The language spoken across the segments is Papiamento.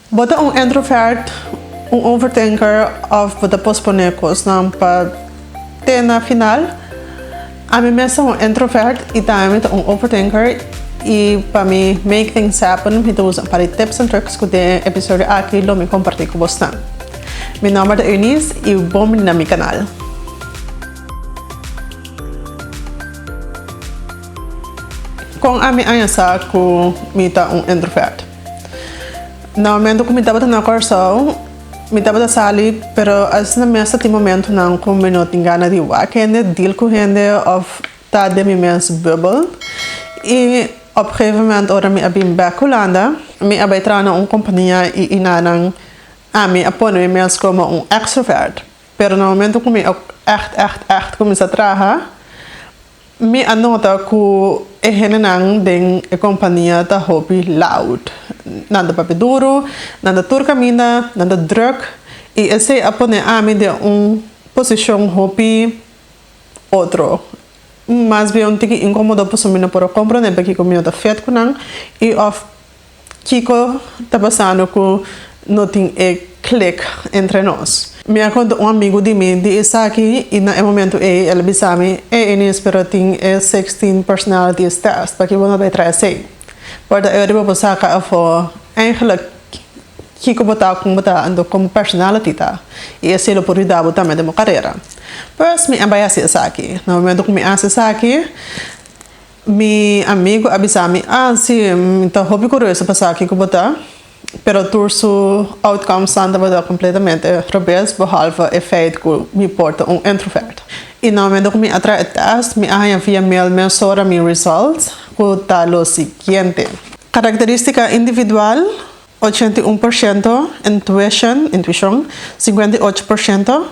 Bo ta un introvert, un overthinker of bo ta pospone cosnan pa te na final? Ami mes ta un introvert y tambe mi ta un overthinker y pa mi make things happen mi ta usa un par di tips and tricks cu den e episodio aki lo mi comparti cu bosnan. Mi nomber ta Eunice y bon bini na mi canal. Con ami aña sa cu mi ta un introvert? Na momento cu mi tabata na Corsou, mi tabata sali, pero asina mes ta tin momentonan cu mi no tin gana di wak hende, deal cu hende of ta den mi mes bubbel. Y op gegeven moment ora mi a bin bek Hulanda, mi a bay traha na un compania y enanan ami a pone mi mes como un extrovert. Pero na momento cu mi a echt, echt, echt cuminsa traha, Mi a nota cu e hendenan den e compania ta hopi loud. Nan ta papia duru, nan ta tur caminda, nan ta druk y esey a pone ami den un posicion hopi otro. Mas bien tiki incomodo pasobra mi no por a comprende pakico mi no ta fet cu nan y of. Kiko ta pasando ku no tin e klik entre nos? Mi a konta un amigu di mi di esaki i na e momentu ei el a bisa mi, Ey Enis, pero a tin e sixteen personalities test, p'aki bo no bai traha esei? Por ta ora di bo por saka afó eigenlik kiko bo ta, kon bo ta, anto kon bo personality ta, i esei lo por yuda bo tambe den bo karera. Pues mi a bai hasi esaki. Na momentu ku mi a hasi esaki. Mi amigu a bisa mi, Ah, si, mi ta hopi curioso pa sa kico bo ta. Pero tur su outcomes nan tabata completamente rebes, behalve e feit cu mi por ta un introvert. Y na momento cu mi a traha e test, mi a haña via mail mesora mi results, cu ta lo siguiente. Caracteristica individual, ochenta i un por ciento, intuition, intuicion, cincuenta i ocho por ciento.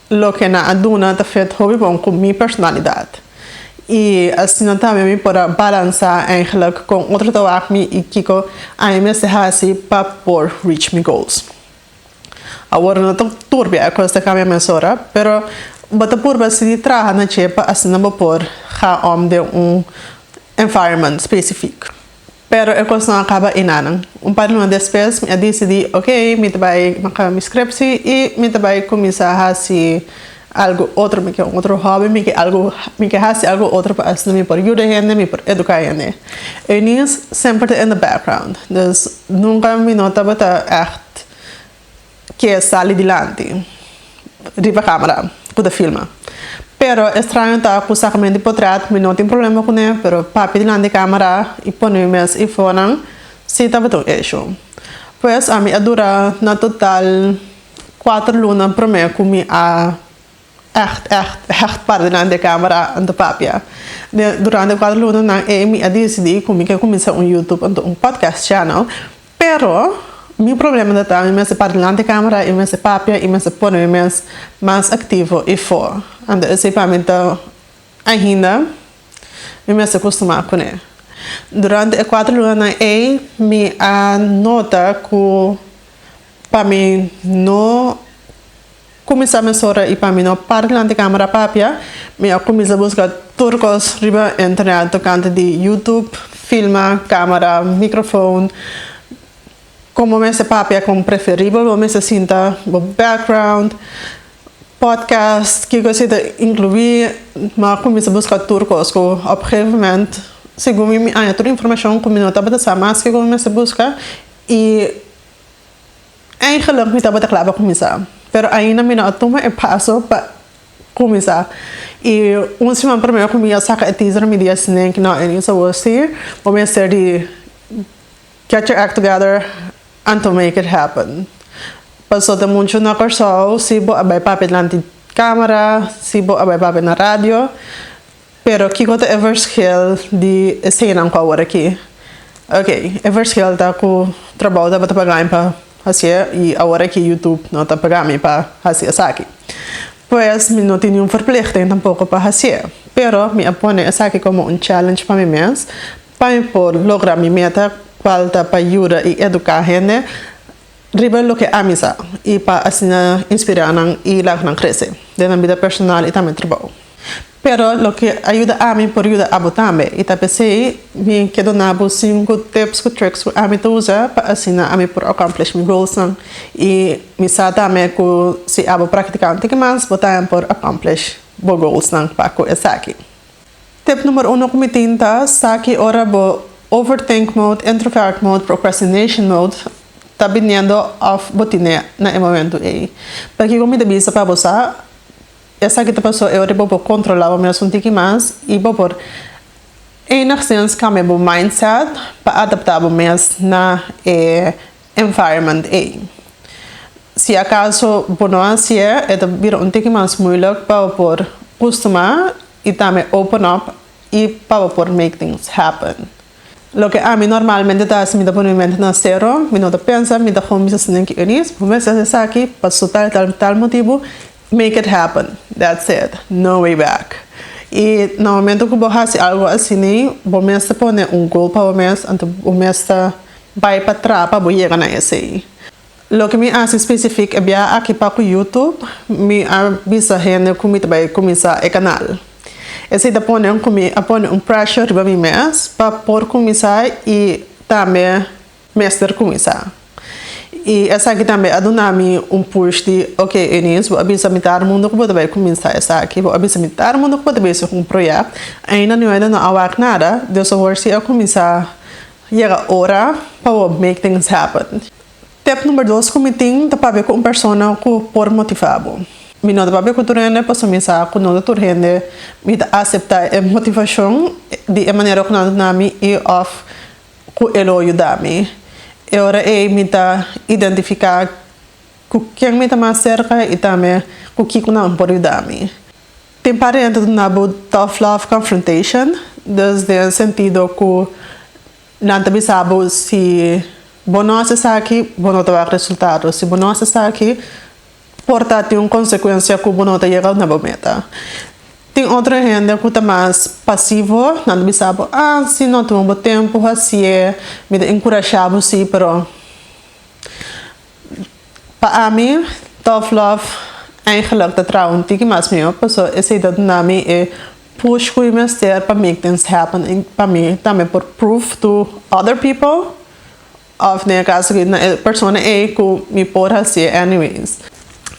Loke nan a duna ta fet hopi bon ku mi personalidat i asina tambe mi por a balansá eigenlik kon otro ta wak mi i kiko a mi mester hasi pa por reach mi goals. Awor no ta turbia e kos ta kambia mes ora, pero bo ta purba sigui traha na dje pa asina bo por ga om den un environment spesifik. Pero e kosnan a kaba enanan. Un par di luna despues mi a disidí, ok, mi ta bai maka mi skrepsi i mi ta bai kuminsá hasi algu otro, mi ke un otro hòbi, mi ke algu, mi ke hasi algu otro pa asina mi por yuda hende, mi por eduká hende. Eunice semper ta in the background, dus nunka mi no tabata ègt ke sali dilanti riba camera cu ta filma. Pero e straño ta cu sacame di potret mi no tin problema cune pero papia dilanti camera y pone mi mes y fonan si tabata un issue. Pues ami a dura na total cuater luna prome cu mi a. Ècht, ècht, ècht partenan di e Kámara a ta papia. Durante e kuater lunanan ei mi a disidí ku mi ke kuminsá un YouTube anto un podcast channel. Pero mi problema ta ta mi mester para dilanti di e Kámara i mi mester papia i mi mester pone mi mes mas aktivo i fo. Anto esei pa mi ta ainda mi mester kustumá kuné. Durante e kuater lunanan ei mi a nota ku pa mi no. Cuminsa mes ora y pa mi no para dilanti di camera papia, mi a cuminsa busca tur cos riba internet tocante di YouTube, filma, camera, microfoon, con bo mester papia con preferibel bo mester sinta, bo background, podcast, ki cosita inclui, mi a cuminsa busca tur cos cu op un gegeven moment segun mi mi aña tur informacion cu mi no tabata sa mas kico mi mester busca y. Eigenlijk mi tabata kla pa kuminsá, pero ainda mi no a tuma e paso pa kuminsá. I un siman promé ku mi a saka e teaser mi di a snake no Enis a wou stuur, bo mester di get your act together and to make it happen. Paso ta muchu na Kòrsou si bo a bai papia dilanti kamera, si bo a bai papia na radio. Pero kiko ta e verschil di esenan ku awor aki? Ok, e verschil ta ku trabou tabata pagami pa hasié i awor aki YouTube no ta pagami pa hasi esaki. Pues mi no tin niun verplichting tampoko pa hasié, pero mi a pone esaki komo un challenge pa mi mes pa mi por logra mi meta kual ta pa yuda i eduká hende riba loke ami sa i pa asina inspirá nan i laga nan krese den nan bida personal i tambe trabou. Pero loke a yuda ami por yuda abo tambe, i ta p'esei mi ke dona bo sinku tips ku tricks ku ami ta usa pa asina ami por accomplish mi goalsnan. I mi sa tambe ku si abo praktiká un tiki mas bo tambe por accomplish bo goalsnan pa ku esaki. Tip numero uno ku mi tin ta, sa ki ora bo overthink mode, introvert mode, procrastination mode ta biniendo òf bo tine na e momentu ei. Pakiko mi ta bisa pa bo sa? Esaki ta pasó e ora bo por controla bo mesun tiki mas i bo por enigszins cambia bo mindset pa adapta bo mes na e environment ei. Si acaso bo no haci'e, e ta bira un tiki mas moeilijk pa bo por custuma i tambe open up i pa bo por make things happen. Loke ami normalmente ta hasi mi ta pone mi mente na sero, mi no ta pensa mi ta kon bisa si Nicky Eunice por mester hasi esaki pa su tal y tal tal motibu, make it happen, that's it, no way back. Y na momento cu bo hasi algo asini bo mester pone un goal pa bo mes, anto bo mester bay patras pa bo yega na esey. Loke mi a hasi specific e biaha aki pa cu YouTube mi a bisa hende cu mi ta bay cuminsa e canal. Esey ta pone cu mi a pone un pressure riba mi mes pa por cuminsa y tambe mester cuminsa. Y esaki tambe a duna mi un push di ok Eunice bo a bisa mi tar mundo cu bo ta bay cuminsa esaki, bo a bisa mi tar mundo cu bo ta bezig cu un project, ainda niueda no a wak nada, Dios a worsi a cuminsa Yega ora pa bo make things happen. Tep number dos cu mi tin ta papia cu un persona cu por motiva bo. Mi no ta papia cu tur hende pasobra mi sa cu no ta tur hende mi ta acepta e motivacion di e manera cu nan ta nami y of cu e lo yuda mi. E ora ey mi ta identifica cu ken mi ta mas cerca y tambe cu kico nan por yuda mi. Tin parti hende ta na bo tough love confrontation, dus den e sentido ku nan ta bisa bo si bo no hasi esaki bo no ta wak resultado, si bo no hasi esaki por ta tin un konsekuensia ku bo no ta yega na bo meta. Tin otro hende ku ta mas pasivo, nan ta bisa bo ah si no tuma bo tempu hasi'e, mi ta enkurashá bo si pero. Pa ami Tough Love eigenlijk ta traha un tiki mas miaw paso esei ta duna mi e push cu mi mester pa make things happen y pa mi tambe por prove to other people of den e caso aki na e persona ei cu mi por haci e anyways.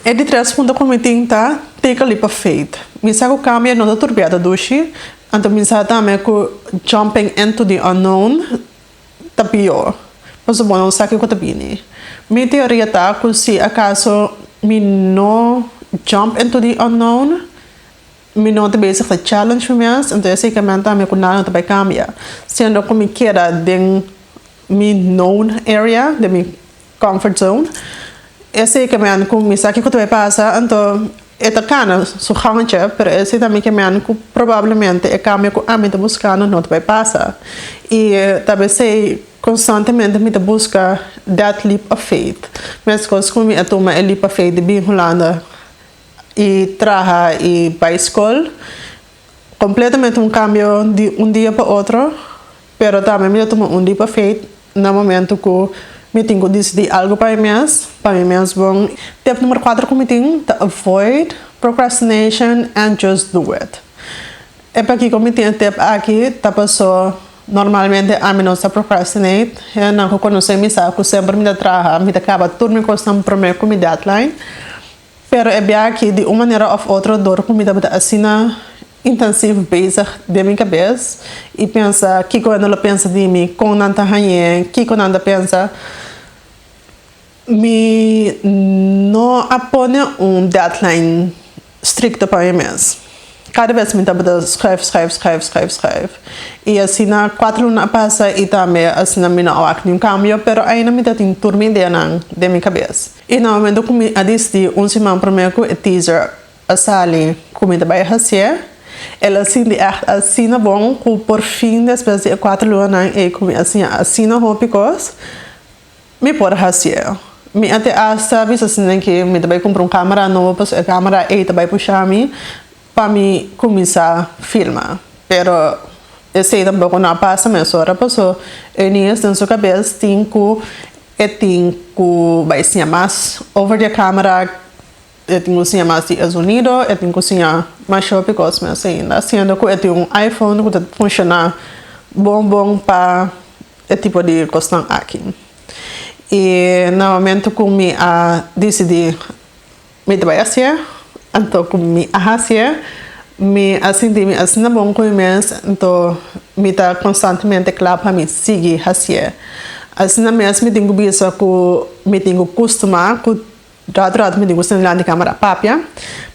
E di tres punto cu mi tin ta take a leap of faith. Mi sa cu cambio no ta turbia ta dushi, anto mi sa tambe cu jumping into the unknown, ta pio. Por suponé un saki ku ta bini. Mi teoria ta ku si akaso mi no jump into the unknown, mi no ta bezig ta challenge mi mes, enton esei ke men tambe ku nada no ta bai kambia. Siendo ku mi keda den mi known area, den mi. Comfort zone. E seke men ku mi sa kiko ta bai pasa, anto e ta kana su gangentje, pero e si tambe ke men ku probablemente e kambio ku ami ta buskando no ta bai pasa. I ta p'esei konstantemente mi ta buska that leap of faith. Meskos ku mi a tuma e leap of faith di bin Hulanda i traha i bai skol, Completamente un cambio di un dia pa otro, pero tambe mi ta tuma un leap of faith na momento cu mi tin cu decidi algo pa mi mes, pa mi mes bon. Tip numero cuatro cu mi tin ta avoid procrastination and just do it. E pakico mi tin e tip aki ta paso normalmente ami no ta procrastinate. Hendenan cu conoce mi sa cu semper mi ta traha, mi ta caba tur mi cosnan prome cu mi deadline. Pero e biaha aki di un manera of otro dor cu mi tabata asina intensif bezig den mi cabes y pensa kico hende lo pensa di mi, con nan ta hañe, kico nan ta pensa, mi no a pone un deadline stricto pa mi mes. Cada bes mi tabata schrijf, schrijf, schrijf, schrijf, schrijf y asina cuatro luna a pasa y tambe asina mi no a wak niun cambio pero aina mi ta tin tur mi ideanan den mi cabes. I na momento ku mi a disdi un siman promé ku e teaser a sali ku mi ta bai hasié, el a sinti ègt asina bon ku por fin despues di e kuater lunanan ei ku mi a siña asina hopi kos, mi por hasié. Mi a te asta bisa esnan ke mi ta bai kumpra un kámara nobo pasobra e kámara ei ta bai pusha mi. Pa mi cuminsa filma. Pero esey tampoco no a pasa mesora paso e niños den su cabes tin cu e tin cu bay siña mas over di e camera, e tin cu siña mas di e zonido, e tin cu siña mas shopi y cosme asina. Siendo cu e tin un iPhone cu ta funciona bon bon pa e tipo di cosnan aki. Y na momento cu mi a dicidi Mi ta bai a sier, anto ku mi a hasier, mi a sinti mi asina bon ku mi mes, anto mi ta konstantemente kla pa mi sigui hasier. Asina mes mi tin ku bisa ku mi tin ku kustumá ku ratu ratu mi tin ku sta dilanti di kámara a papia.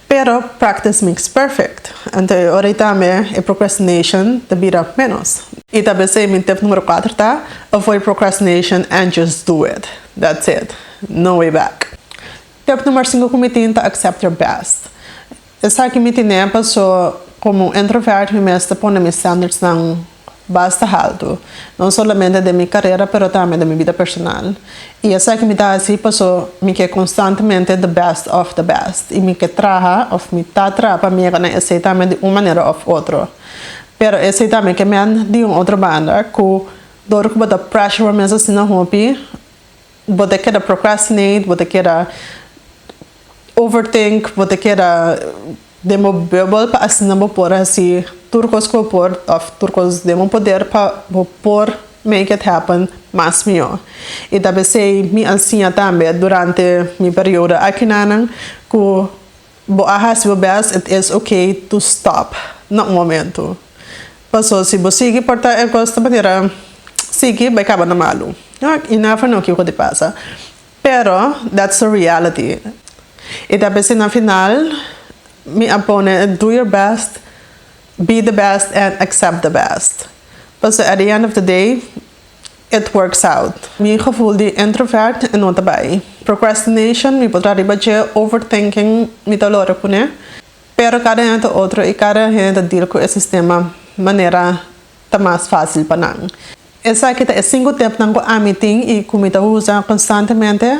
Pero practice makes perfect, anto e ora ei tambe e procrastination ta bira ménos. I ta besei mi tip número kuater ta, Avoid procrastination and just do it. That's it. No way back. Tep number sinku ku mi tin ta accept your best. Esaki mi tin'e paso komo un introvert mi mester pone mi standardsnan basta haltu, no solamente den mi karera pero tambe den mi bida personal. I esaki mi ta hasi paso mi ke konstantemente the best of the best i mi ke traha òf mi ta traha pa mi yega na esei tambe di un manera òf otro. Pero esei tambe ke mèn di un otro banda ku dor ku bo ta pressure bo mes asina hopi, Bo ta keda procrastinate, bo ta keda overthink, bo ta keda den bo bubbel pa asina bo por hasi tur cos cu bo por of tur cos den bo poder pa bo por make it happen mas mijo. Y tal besey mi a siña tambe durante mi periodo akinan cu. Bo a hasi bo best, it is ok to stop na un momento. Paso si bo sigui porta e cos ta manera sigui bay caba na malu. Y nan a fla nan kico di pasa. Pero that's the reality. Y ta p'esey na final mi a pone do your best, be the best and accept the best. Paso at the end of the day. It works out. Mi gevoel di introvert no ta bai. Procrastination mi por traha riba dje, overthinking mi ta lora pone. Pero kada hende otro y kada hende ta deal cu e sistema manera ta mas facil pa nan. Esaki ta e cinco tipnan cu ami tin y cu mi ta usa constantemente.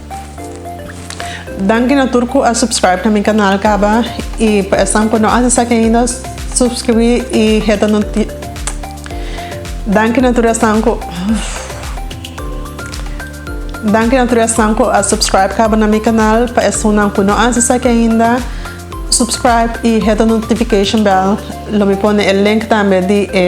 Danki na tur cu a subscribe na mi canal caba y pa esnan cu no a haci esaki ainda subscribi y heta noti Danki na tur esnan cu Danki na tur esnan cu a subscribe caba na mi canal pa esunnan cu no a haci esaki ainda subscribe y heta notification bell lo mi pone e link tambe di e.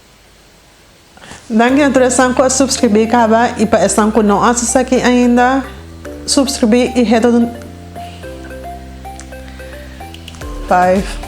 Dan gracias tur esnan cu a subscribí caba y pa esnan cu no a haci esaki ainda subscribí y heta tu notificacion.